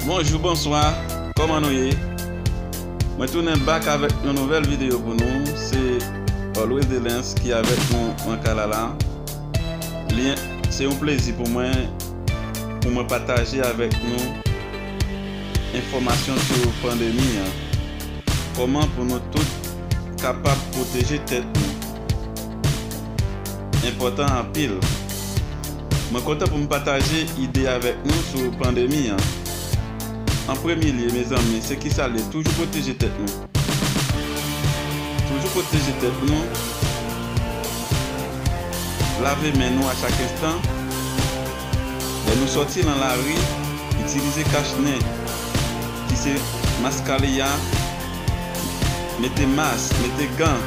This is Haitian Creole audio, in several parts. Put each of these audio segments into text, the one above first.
Bonjou bonswa kòman nou ye mwen tounen back avèk yon nouvèl video pou nou se always delens ki avèk nou nan kay la la li se yon plezi pou mwen pou mwen pataje avèk nou enfòmasyon sou pandemi an kòman pou nou tout kapab pwoteje tèt nou enpòtan anpil. Mwen kontan pou m pataje ide avèk nou sou pandemi an. An premye lye mezanmi se kisa l ye toujou pwoteje tèt nou. Toujou pwoteje tèt nou, lave men nou a chak enstan, lè nou sòti lan lari itilize kach nen ki se maskaliya, mete mas, mete gan.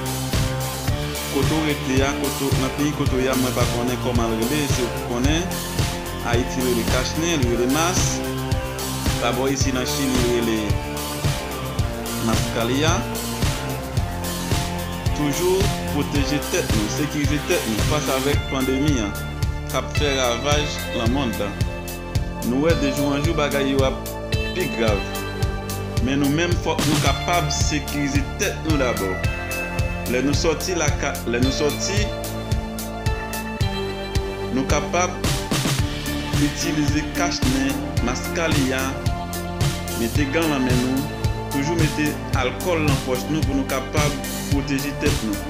Kote w rete a kote nan peyi kote w ye a mwen pa konnen kòman l rele se ou ki konnen ayiti rele kach nen li rele mas pa bò isi nan chili rele mas kalya toujou pwoteje tèt nou sekirize tèt nou fas avèk pandemi an kap fè ravaj lan mond lan. Nou wè de jou an jou bagay yo ap pi grav. Men nou menm fòk nou kapab sekirize tèt nou dabò. Lè nou sòti lakay lè nou sòti nou kapab itilize kach nen, maskaliyan, mete gan lan men nou, toujou mete alkòl lan pòch nou pou nou kapab pwoteje tèt nou.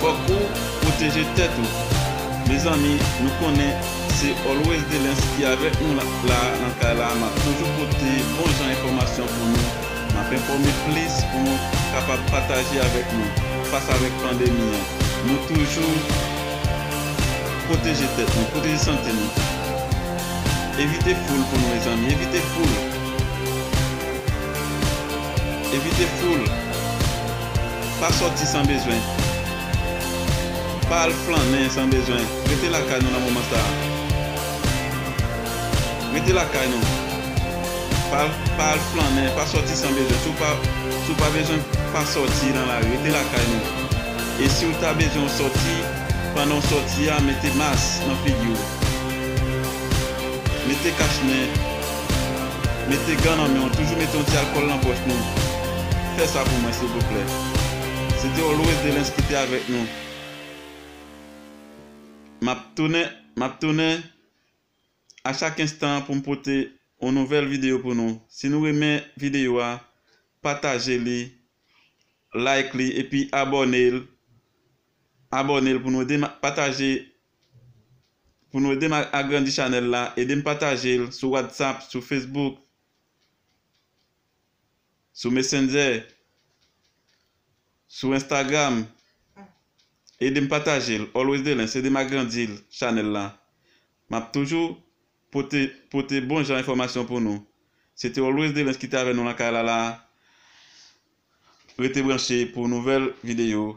Fok ou proteje tet ou. Mezanmi nou konnen se always delens ki avek nou la nan kay la map toujou pote bon jan enfomasyon pou nou map enfome plis pou nou kapab pataje avek nou fas avek pandemi an nou toujou proteje tet nou proteje sante nou evite foul pou nou mezanmi evite foul. Evite foul. Pa sòti san bezwen. Pa al flannen san bezwen. Rete lakay nou nan moman sa a. Rete lakay nou. Pa al, pa al flannen, pa sòti san bezwen. Si w pa, si w pa bezwen, pa sòti nan lari. Rete lakay nou. E si w ta bezwen w sòti, pandan w sòti a, mete mas nan figi w. Mete kach nen. Mete gan nan men w toujou mete yon ti alkòl nan pòch nou fè sa pou mwen silvouplè se te always delens ki te avèk nou map tounen map tounen a chak enstan pou m pote yon nouvèl videyo pou nou si nou renmen videyo a pataje li like li epi abòne abòne pou nou ede m pataje Pou nou edem agrandi chanèl la edem patajel sou whatsapp sou facebook sou messenger sou instagram edem patajel always delens edem agrandi chanèl la map toujou pote pote bon jan enfòmasyon pou nou se te always delens ki te avè nou lakay la la rete branche pou nouvèl videyo